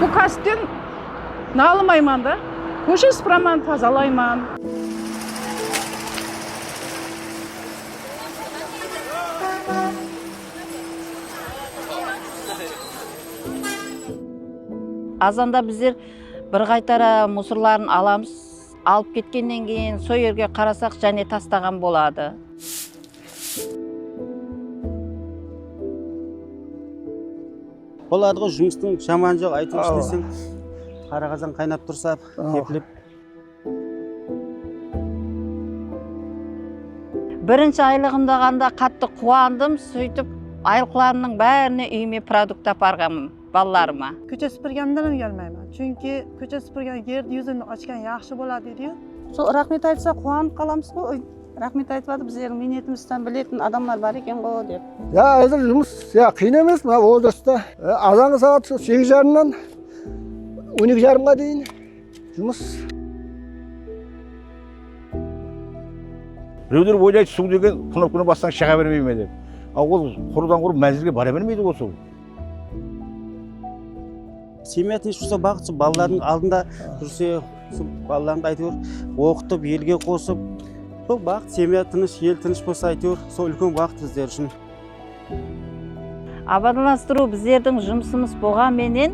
Bul kásipten nalımayman da, kóshe sıpıraman, tazalayman. Azanda bizler bir qaytara musorların alamız, alıp ketkennen keyin so yerge qarasaq jáne tastaǵan boladı. Boladı ǵoy jumıstıń jamanı joq áyteu isleseń qara qazan qaynap tursa kepilip. Birinshi aylıǵımdaǵanda qattı quwandım, sóytip aylıqlarımnıń bárine úyime produkt aparǵanmın. balalarıma. Kóshe súpirgenimde de úyalmayman, chunki kóshe súpirgen yerdi yúzin ochgan yaqshı boladı deydiǵo. Sol raxmet aytsa quwanıp qalamızǵo oy raxmet aytıp atır bizlerdiń miynetimizdi biletin adamlar bar ekenǵo dep. Ya házir jumıs ya qıyın emes mına odaşta azanǵı saat sol segiz jarımnan on eki jarımǵa deyin jumıs. Bireuler oylaydı suw degen kunıp kune bassań shaǵa bermeyme dep a ol qurıdan qurı mánzilge bara bermeydiǵo suw. Semya tınısh bolsa baxıt sol balalardıń aldında júrse sol balalarındı ayteuir oqıtıp elge qosıp sol baxıt semya tınısh el tınısh bolsa ayteuir sol úlken baxıt bizler ushın. Abadanlastırıu bizlerdiń jumısımız boǵan menen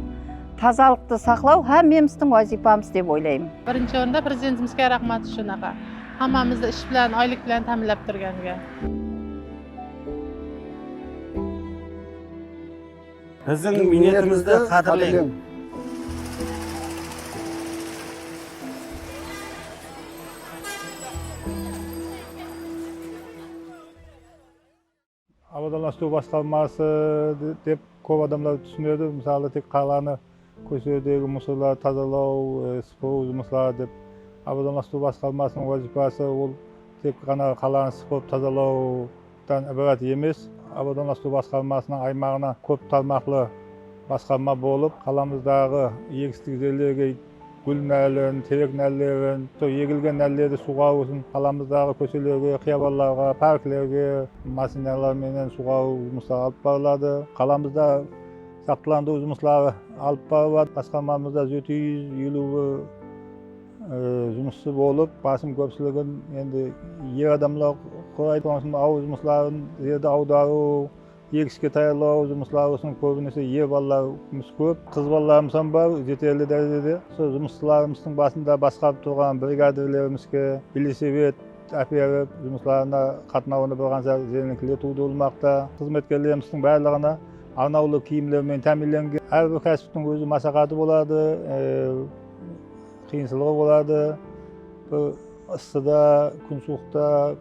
tazalıqtı saqlau hámmemizdiń wazıypamız dep oylaymın. Birinshi orında prezidentimizge raxmat ushın aǵa hammamızdı ish bilan oylik bilan táminlap turganga. Biziń miynetimizdi qádirleń! Abadanlastıw bastalması dep kóp adamlar túsinedi, mısalı tek qalanı Kóshelerdegi mussorlardı tazalaw, sıpırıw jumısları dep abadonlastırıw basqarmasınıń wazıypası ol tek ǵana qalanı sıpırıp tazalawdan ibarat emes. Abadonlastırıw basqarmasınıń aymaǵına kóp tarmaqlı basqarma bolıp, qalamızdaǵı egistik jerlerge gúl nálin, terek nállerin, sol egilgen nállerdi suwǵarıw ushın qalamızdaǵı kóshelerge, qıyabanlarǵa, parklerge mashinalar menen suwǵarıw jumısları alıp barıladı. Qalamızda. Saqlandırıw jumısları alıp barıladı. Basqarmamızda jeti júz eliwi jumısshı bolıp, basım kópshiligin endi er adamlar quraydı. Sonıń ushın awıl jumısların, jerdi awdarıw, egiske tayarlaw jumısları ushın kóbinese er balalarımız kóp. Qız balalarımız hám bar jeterli dárejede. Usı jumısshılarımızdıń basında basqarıp turǵan brigadirlerimizge velosiped áperip, jumıslarına qatnawında bir qansha jelinlikler tuwdırılmaqta. Xızmetkerlerimizdiń bárliǵine Arnawlı kiyimler menen támiyinlengen. Hár bir kásiptiń óz masaqatı boladı, qıyınsılıǵı boladı, bir ıssıda, kún suwıqta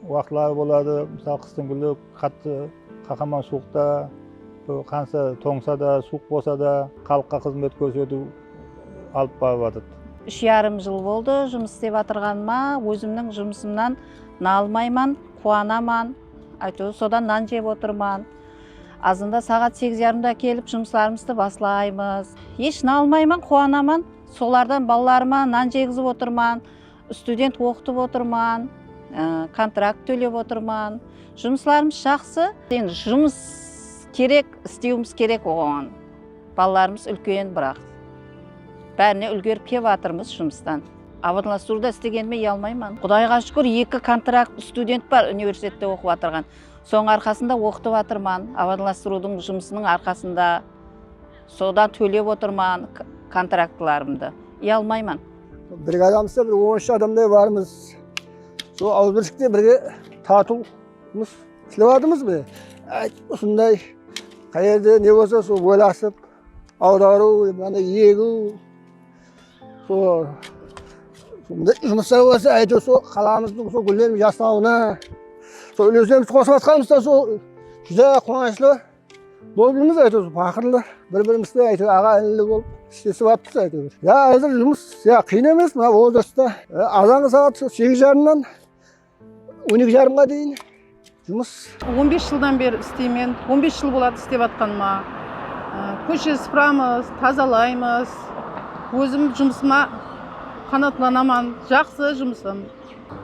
waqıtları boladı. Mısalı, qıstıń gúli qattı qahaman suwıqta, bir qansha tońsa da, suwıq bolsa da, xalıqqa xızmet kórsetiw alıp barıp atırdı. Úsh yarım jıl boldı jumıs istep atırǵanıma. Ózimniń jumısımnan nalmayman, quwanaman. Áytewir, sodan nan jep otırman. Azında saǵat segiz yarımda kelip jumıslarımızdı baslaymız. Esh nalmayman, quwanaman. Solardan balalarıma nan jegizip otırman, student oqıtıp otırman, kontrakt tólep otırman. Jumıslarımız jaqsı. Endi jumıs kerek, istewimiz kerek oǵan. Balalarımız úlken biraq, bárine úlgerip kelip atırmız jumıstan. Abadlastırıwda islegenime uyalmayman. Qudayǵa shúkir, eki kontrakt student bar universitette oqıp atırǵan. Sonıń arqasında oqıtıp atırman, abadalastırıwdıń jumısınıń arqasında sodan tólep otırman kontraktlarımdı. Uyalmayman. Brigadamızda bir on ush adamday barmız. Sol awızbirshlikte birge tartıwımız islep atırmız mine. Át usınday qayerde ne bolsa sol oylasıp awdarıw, mınanday egiw. Sol jumısta bolsa áyteu sol qalamızdıń sol gúlleriniń jasnauına sol úlesimiz qosıp atqanımızdan sol júdá quwanıshlı bolıp júrmiz áyteu sol paqırlı bir birimizdi áyteu aǵa inili bolıp islesip atırız áyteu ya házir jumıs ya qıyın emes mına vozrastta azanǵa saat sol segiz jarımnan On eki jarımǵa deyin jumıs. On bes jıldan beri isteymen. On bes jıl boladı istep atqanıma. Kóshe sıpıramız, tazalaymız. Ózim jumısıma qanaatlanaman. Jaqsı jumısım.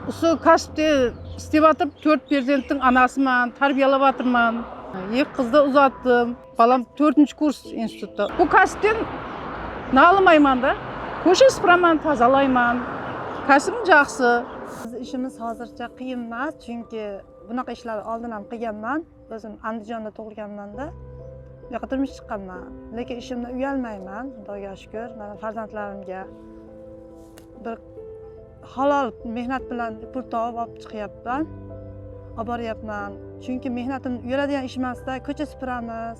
Usı kásipte istep atırıp tórt perzenttiń anasıman, tárbiyalap atırman. Eki qızdı uzattım. Balam tórtinshi kurs institutta. Bul kásipten nalımayman da. Kóshe sıpıraman, tazalayman. Kásibim jaqsı. Biz ishimiz hazırsha qıyın emas, chunki bunaqa ishlerdi aldın ham qıyganman. Ózim Andijanda tugılganman da, buyaqta turmıs shıqqanman. Lekin ishimnen uyalmayman, Xudayǵa shúkir. Mana farzandlarımga bir. Halal mehnat bilan pul tawıp alıp shıqıyapman, abaryapman. Chunki mehnatim uyaladigan ish emas da, kóshe supıramız,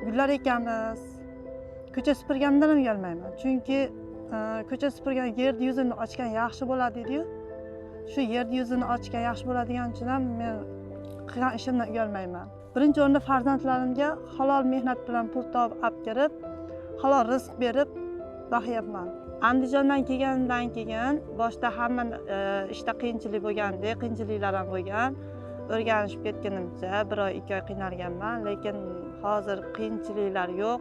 gúllar ekemiz. Kóshe supırganımdan ham uyalmayman. Chunki kóshe supırgan yerdi yuzin ochgan yaqshı boladı deydi. Shu yerdi yuzin ochgan yaqshı boladigan ushın ham men qılgan ishimden uyalmayman. Birinshi orında farzandlarımga halal mehnat bilan pul tawıp ápkerip, halal rızıq berip baqıyapman. Andijannan kelgenimdan keyin boshta hamma ishta qıyınshılık bolgan edi, qıyınshılıklar ham bolgan. Órganiship ketkenimizde bir oy, eki oy qıynalganman, lekin hozir qıyınshılıklar joq.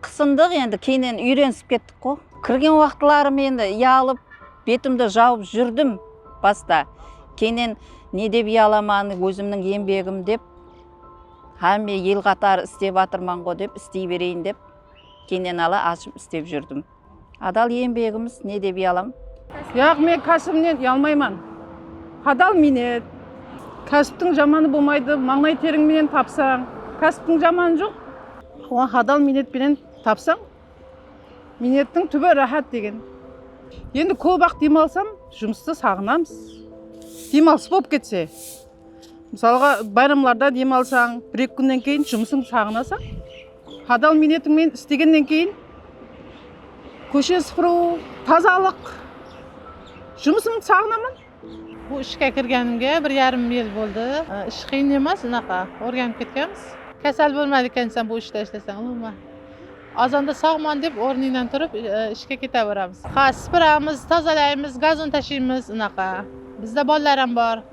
Qısındıq endi keynen úyrenisip kettik qo. Kirgen waqıtlarım endi uyalıp betimdi jawıp júrdim basta keynen ne dep uyalaman ózimniń enbegim dep hámme el qatarı istep atırmanǵo dep istey bereyin dep keynen ala ashıp istep júrdim. Adal eńbegimiz ne dep uyalam? Yaq, men kásibimnen uyalmayman. Hadal miynet. Kásiptiń jamanı bolmaydı, mańlay teriń menen tapsań, kásiptiń jamanı joq. Oǵan hadal miynet penen tapsań, miynettiń túbi ráhát degen. Endi kóp-aq dem alsam, jumıstı saǵınamız. Dem alıs bolıp ketse. Mısalǵa, bayramlarda dem alsań, bir-eki kúnnen keyin jumısıńdı saǵınasań. Hadal miynetiń menen istegennen keyin kóshe sıpırıw, tazalıq, jumısımdı saǵınaman. Bul ishke kirgenimge bir yarım yıl boldı. Ish qıyın emes, unaqa organıp ketkemiz. Kásel bolmaydı ekensen bul ishte ishleseń, umuman. Azanda sawman dep ornıńnan turıp ishke keteberamız. Ha, sıpıramız, tazalaymız, gazon tashiymız, unaqa. Bizde balalar ham bor.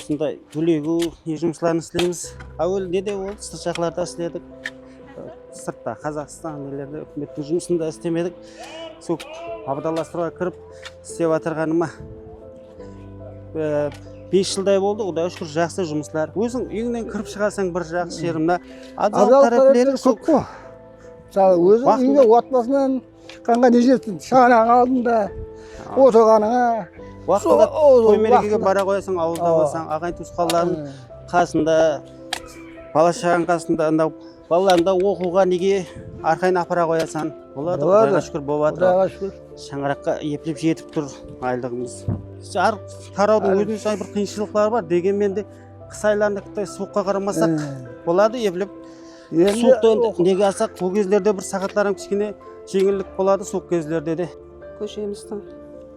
Usınday túlegiw ne jumıslardı isleymiz. Áwel ne de boldı sırt jaqlarda isledik. Sırtta Qazaqstan nelerde úkimettiń jumısında islemedik. Sol abadalastırıwǵa kirip islep atırǵanıma bes jılday boldı. Qudayǵa shúkir jaqsı jumıslar. Óziń úyińnen kirip shıǵasań bir jaqsı jeri mına. Abzal tárepleri kóp qo. Óziń úyińde otbasınan Shıqqanǵa ne jetsin, shanań aldında otırǵanıńa. Waqtında toy merekege bara qoyasań, awılda bolsań, aǵayin tuwısqanlardıń qasında, bala shaǵań qasında, anda balalarıńdı da oqıwǵa nege arqayın apara qoyasan. Boladı, Qudayǵa shúkir bolıp atır. Qudayǵa shúkir. Shańaraqqa eplep jetip tur aylıǵımız. Hár tarawdıń ózine shań bir qıyınshılıqları bar, degenmen de qıs aylarında suwıqqa qaramasaq boladı, eplep. Suwıqtı endi nege alsaq, bul gezlerde bir saǵatlar hám kishkene jeńillik boladı suwıq gezlerde de. Kóshemizdiń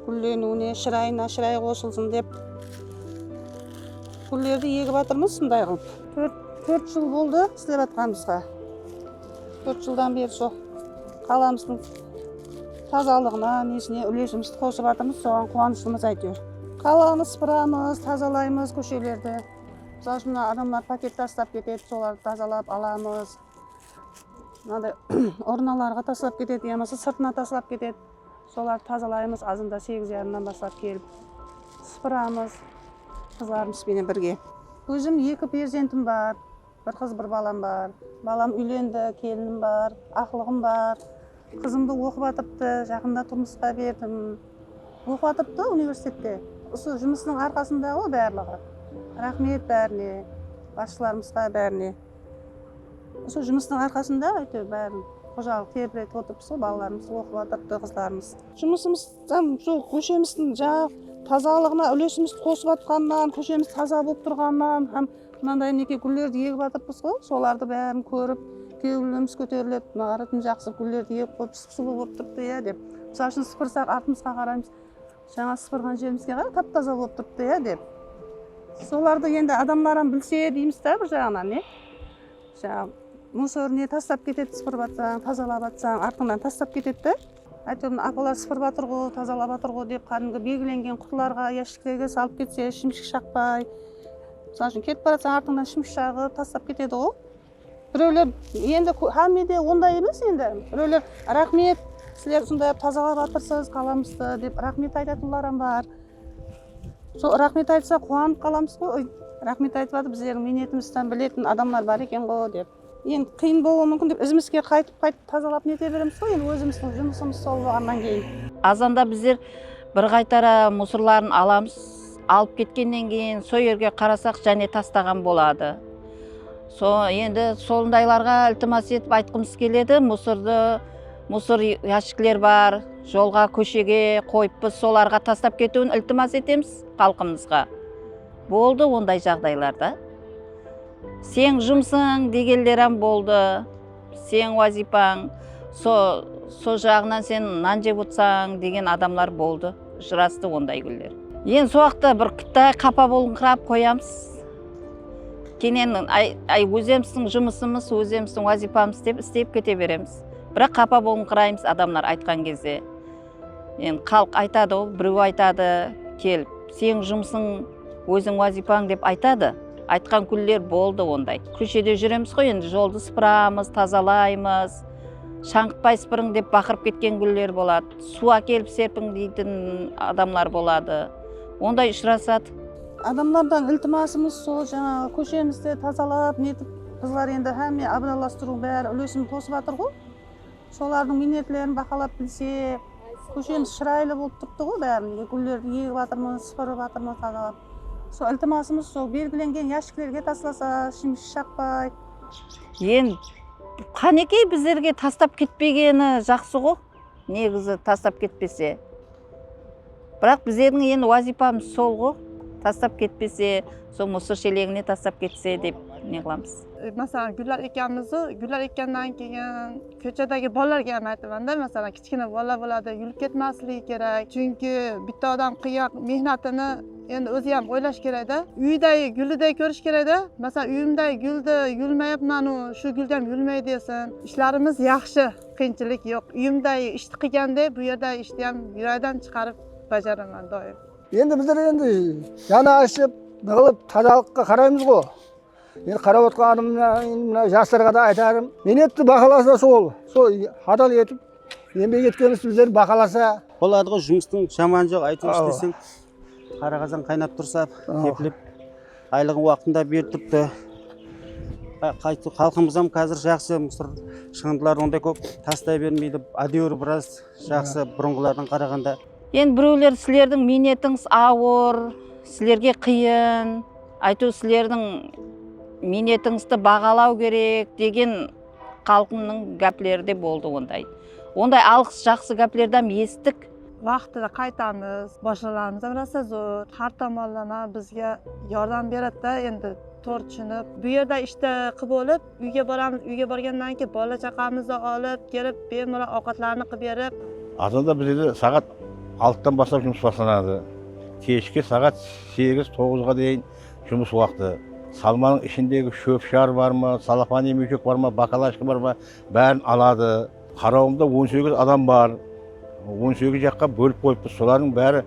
gúlleniwine, shırayına shıray qosılsın dep gúllerdi egip atırmız usınday qılıp. Tórt tórt jıl boldı islep atqanımızǵa. Tórt jıldan beri usı qalamızdıń tazalıǵına, nesine úlesimizdi qosıp atırmız, soǵan quwanıshımız áytewir. Qalanı sıpıramız, tazalaymız kóshelerdi. Mısal ushın mına adamlar paket taslap ketedi, solardı tazalap alamız. Mınaday urnalarǵa taslap ketedi, ya bolmasa sırtına taslap ketedi. Solardı tazalaymız azanda segiz yarımdan baslap kelip. Sıpıramız qızlarımız benen birge. Ózim eki perzentim bar. Bir qız bir balam bar. Balam úylendi, kelinim bar, aqlıǵım bar. Qızımdı oqıp atırıptı, jaqında turmısqa berdim. Oqıp atırıptı universitette. Usı jumısınıń arqasında ǵoy barlıǵı. Raxmet bárine, basshılarımızǵa bárine. Usı jumısınıń arqasında áyteu bárin xojalıq terletip otırıp usı balalarımız oqıp atırıptı qızlarımız. Jumısımız tam usı kóshemizdiń jaǵ tazalıǵına úlesimiz qosıp atqanınan, kóshemiz taza bolıp turǵanınan hám Mınanday mineke gúllerdi egip atırpız ǵo, solardı bárin kórip kewilimiz kóteriledi, mına qara tim jaqsı gúllerdi egip qoyıp sıp-sulıu bolıp turıptı iya dep. Mısal ushın sıpırsaq artımızǵa qaraymız, jańa sıpırǵan jerimizge qara tap-taza bolıp turıptı iya dep. Solardı endi adamlar ham bilse deymiz da bir jaǵınan iya. Jańa musor ne taslap ketedi sıpırıp atsań, tazalap atsań, artıńnan taslap ketedi de. Áytewir apalar sıpırıp atırǵo, tazalap atırǵo dep kádimgi belgilengen qutılarǵa, yashiklerge salıp ketse shimshik shaqpay, mısal ushın ketip baratsań artıńnan shimshik shaǵıp tastap ketediǵo. Birewler endi hámme de onday emes endi. Birewler raxmet, sizler usınday qılıp tazalap atırsız qalamızdı dep raxmet aytatınlar ham bar. Sol raxmet aytsa quwanıp qalamız ǵoy. Raxmet aytıp atır bizlerdiń miynetimizdi bilетін adamlar bar ekenǵo dep. Endi qıyın bolıwı múmkin dep izimizge qaytıp qaytıp tazalap nete beremiz ǵoy endi ózimizdiń jumısımız sol bolǵannan keyin. Azanda bizler bir qaytara musırların alamız alıp ketkennen keyin so yerge qarasaq jáne tastaǵan boladı so endi solındaylarǵa iltimas etip aytqımız keledi musırdı musır yashikler bar jolǵa kóshege qoyıppız solarǵa tastap ketiwin iltimas etemiz xalqımızǵa. Boldı onday jaǵdaylarda seń jumsıń degenleram boldı, seń wazıypań so, so jaǵınan sen nan jep otsań degen adamlar boldı, jırastı onday gúller. Endi so waqıtta bir kúttay qapa bolıńqırap qoyamız, kenen ay, ay ózemizdiń jumısımız, ózemizdiń wazıypamız dep istep kete beremiz, biraq qapa bolıńqıraymız adamlar aytqan gezde. Endi xalıq aytadı ǵo bireu aytadı kelip seniń jumısıń oziń uazıypań dep aytadı aytqan kúnler boldı onday kóshede juremiz ǵo endi joldı sıpıramız tazalaymız shańǵıtpay sıpırıń dep baqırıp ketken kúnler boladı suu akelip sepiń deytin adamlar boladı onday ushırasadı. Adamlardan iltimasımız sol janaǵı kóshemizdi tazalap netip qızlar endi xámme abıralastırıu bári ulesin qosıp atır ǵo. Solardıń miynetlerin bahalap bilsek, kóshemiz shıraylı bolıp turıptıǵo bárinde, gúllerdi egip atırmız, sıpırıp atırmız tazalap. Sol iltimasımız sol belgilengen yashiklerge taslasa, ishimiz shaqpay. Eń qánekey bizlerge tastap ketpegeni jaqsıǵo, negizi tastap ketpese. Biraq bizlerdiń endi wazıypamız sol ǵo, tastap ketpese, sol musor shelegine tastap ketse dep ne qılamız. Masalan, Gúllar ekamızdı Gúllar ekannan keyin kóchedegi balalarga ham aytaman da, masalan, kichkina balalar boladı, yúrip ketmasligi kerek. Chunki bitta odam qıyǵan mehnatını endi ózi ham oylash kerek da. Úydegi gúlidey kórish kerek da. Masalan, úyimdegi gúldi yúlmeyip, mınanuı, shu gúldi ham yúlmey desin. Ishlarimiz yaqshı. Qıyınshilik joq uyimda ishti qiygan de bu jerda ishtiyam juraydan shıqarıp bajaraman doim. Endi bizler endi jana ashıp nıǵılıp tazalıqqa qaraymız ǵo endi qarap otqanım mına jaslarǵa da aytarım miynetdi bahalasa sol sol adal etip enbek etkenimiz bizlerdi bahalasa boladı ǵo jumıstıń jamanı joq aytep ishleseń. Qara qazan qaynap tursa kepilip aylıǵın waqtında berip turıptı. Xalqımız ham kázir jaqsı, mısır shıǵındıların onday kóp tastay bermeydi, ádewir biraz jaqsı burınǵılardan qaraǵanda. Endi birewler sizlerdiń miynetińiz awır, sizlerge qıyın, aytıw sizlerdiń miynetińizdi baǵalaw kerek degen. Xalqımnıń gápleri de boldı onday. Onday alǵıs jaqsı gáplerdam esittik. Waqtında qaytamız. Bashılarımızam rasa zor. Xar tomonlama bizge yordam beredi da endi tor tushınip. Bu yerde ishte qı bolıp uyge boramız. Uyge borgannan keyin bala chaqamızdı alıp kelip bemalol awqatlarını qıp berip. Azanda bizlerde saǵat altıdan baslap jumıs baslanadı. Keshki saǵat segiz, toǵızǵa deyin Jumıs waqtı, salmanıń ishindegi shóp-shar bar ma, salofan emewshek bar ma, bakalasha bar ma, bárin aladı. Qarawımda on segiz adam bar. On segiz jaqqa bólip qoyıppız. Solardıń bári,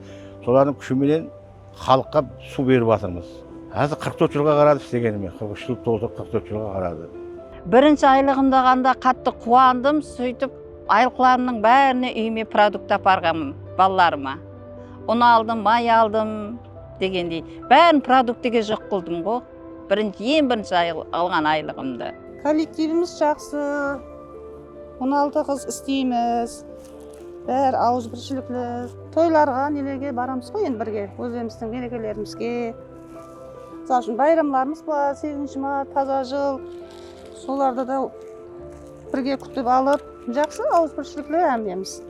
solardıń kúshi menen xalıqqa suw berip atırmız. Házir qırq tórt jılǵa qaradı islegenime, qırq úsh jıl toldı, qırq tórt jılǵa qaradı. Birinshi aylıǵımdaǵanda qattı quwandım, sóytip aylıqlarımnıń bárine úyime produkt aparǵanmın, balalarıma un aldım, may aldım. Degendey, bárin produktiga joq qıldım ǵo, birinshi, en birinshi alǵan aylıǵımdı. Kollektivimiz jaqsı, on altı qız isteymiz, bári auızbirshilikli. Toylarǵa, nelerge baramız ǵo endi birge, ózlerimizdiń merekelerimizge. Misal ushın, bayramlarımız bar, segizinshi mart, taza jıl, solarda da. Birge kútip alıp, jaqsı awızbirshilikli ámlemiz.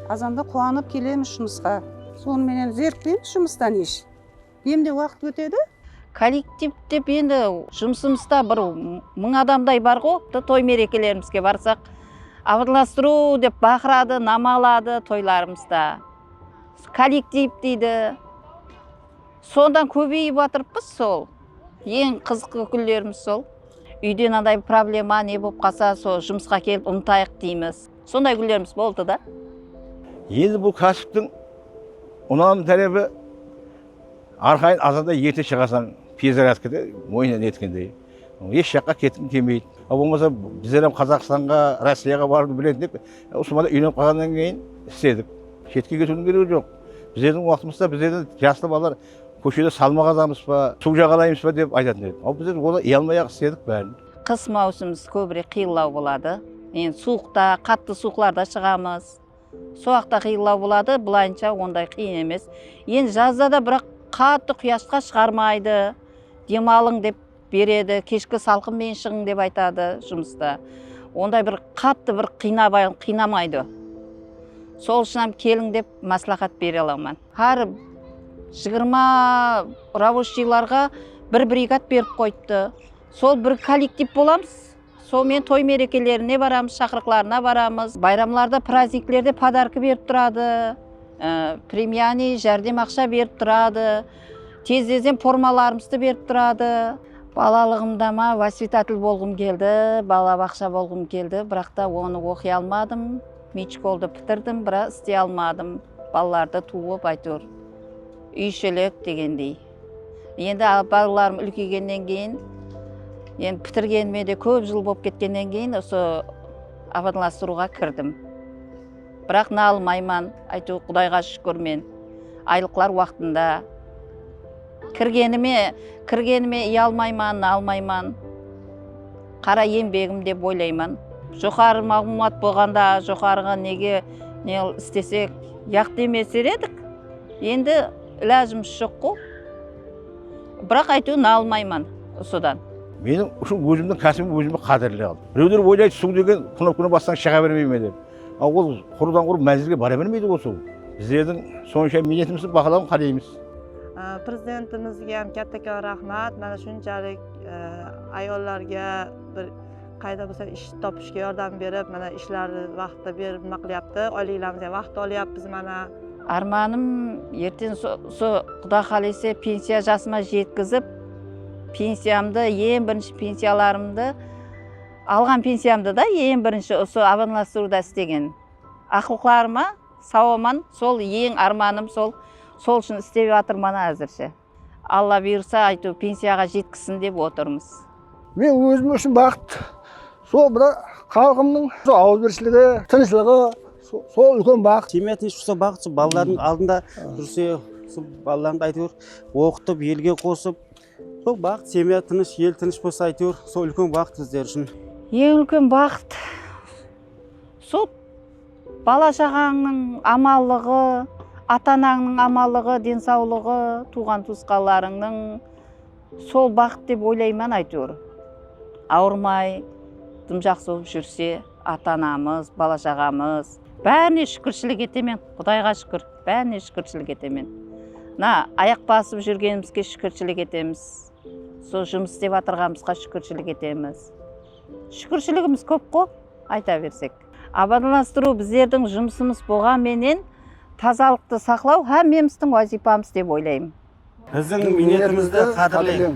Azanda quwanıp kelemiz jumısqa. Sonı menen zerikkpeymiz jumıstan esh kemde waqıt ótedi. Kollektiv dep endi jumısımızda bir mıń adamday barǵo, toy merekelerimizge barsaq abırlastırıw dep baqıradı, nama aladı toylarımızda kollektiv deydi. Sondan kóbeyip atırıppız sol eń qızıqlı gúllerimiz sol úyde mınaday problema ne bolıp qalsa sol jumısqa kelip umıtayıq deymiz sonday gúllerimiz boldı da. Endi bul kásiptiń unamlı tárepi arqayın azanda erte shıǵasań perezaryadkada oynan etkendey esh jaqqa ketkim kelmeydi a bolmasa bizler ham qazaqstanǵa rossiyaǵa barıwdı biletindek usıma da úylenip qalǵannan keyin istedik shetke ketiwdiń keregi joq. Bizlerdiń waqtımızda bizlerden jaslı balalar kóshede salma qazamız ba, suw jaǵalaymız ba dep aytatuın edi. Al bizler onı iy almay-aq istedik bárin. Qıs máwsimimiz kóbirek qıyıllaw boladı. Endi suwıqta, qattı suwıqlarda shıǵamız. Soaqta qıyıllaw boladı, bılayınsha onday qıyın emes. Endi jazda da biraq qattı quyashqa shıǵarmaydı. Dem alıń dep. beredi keshki salqın menen shıǵıń dep aytadı jumısta onday bir kattı bir kıynamaydı sol ushın ham keliń dep maslaxat bere alaman xar jigirma raboshilarǵa bir brigat berip koyıptı sol bir kolektiv bolamız Sonımen toy merekelerine baramız, shaqırıqlarına baramız. Bayramlarda, prazniklerde podarka berip turadı, premiyaniy, járdem aqsha berip turadı, tezlezden formalarımızdı berip turadı. Balalıǵımda ma vosvitatel bolǵım keldi, bala baqsha bolǵım keldi, biraqta onı oqıy almadım, miyt shkoldı pitirdim, biraq istey almadım, balalardı tuuıp ayteuir úy ishelek degendey. Endi balalarım úlkeygennen keyin, endi pitirgenime de kóp jıl bolıp ketkennen keyin usı abadlastırıwǵa kirdim. Biraq nalmayman, áyteuir Qudayǵa shúkir men aylıqlar waqtında, kirgenime kirgenime uyalmayman, nalmayman, qara eńbegim dep oylayman. Joqarı maǵlıwmat bolǵanda joqarıǵa nege ne istesek yaqtı emes der edik, endi. Ilajımız joq qo. Biraq áyteu nalmayman usıdan. Meniń ushın ózimniń kásibim ózime qádirli al. Bireuler oylaydı suw degen knopkani bassań shıǵa bermey me dep. A ol qurıdan qurıp mánzilge bara bermeydi ǵo suw. Bizlerdiń sonsha miynetimizdiń bahalauın qáleimiz. Prezidentimizge hám káttekan raxmat mana shunshalik ayollarga bir. Qayda bolsa ish topishke yordam berip, mana ishlardi vaqtida berip nima qilyapti, oyliglarimiz ham vaqtida olyapmiz mana. Ármanım erten usı quda qálese pensiya jasıma jetkizip pensiyamdı en birinshi pensiyalarımdı alǵan pensiyamdı da en birinshi usı abanlastırıwda istegen aqlıqlarıma saw aman sol en ármanım sol sol ushın istep atırman azirshe. Alla buyırsa ayteu pensiyaǵa jetkisin dep otırmız. Men ózim ushın baxıt sol mına xalqımnıń usı auızbirshiligi, tınıshlıǵı sol úlken baxıt. Semya tınısh tursa baxıt sol balalardıń aldında júrse sol balalarındı ayteuir oqıtıp elge qosıp sol baxıt semya tınısh el tınısh bolsa ayteuir sol úlken baxıt bizler ushın. Eń úlken baxıt sol. Bala-shaǵańnıń amanlıǵı, ata-anańnıń amanlıǵı, densawlıǵı, tuwǵan-tuwısqanlarıńnıń sol baxıt dep oylayman aytewir. Awırmay, dım jaqsı bolıp júrse, ata-anamız, bala-shaǵamız bárine shúkirshilik etemen, Qudayǵa shúkir, bárine shúkirshilik etemen. Mına ayaq basıp júrgenimizge shúkirshilik etemiz, usı jumıs istep atırǵanımızǵa shúkirshilik etemiz. Shúkirshiligimiz kóp-ǵo, ayta bersek. Abadanlastırıw bizlerdiń jumısımız boǵan menen tazalıqtı saqlaw hámmemizdiń wazıypamız dep oylaymın. Biziń miynetimizdi qádirleń!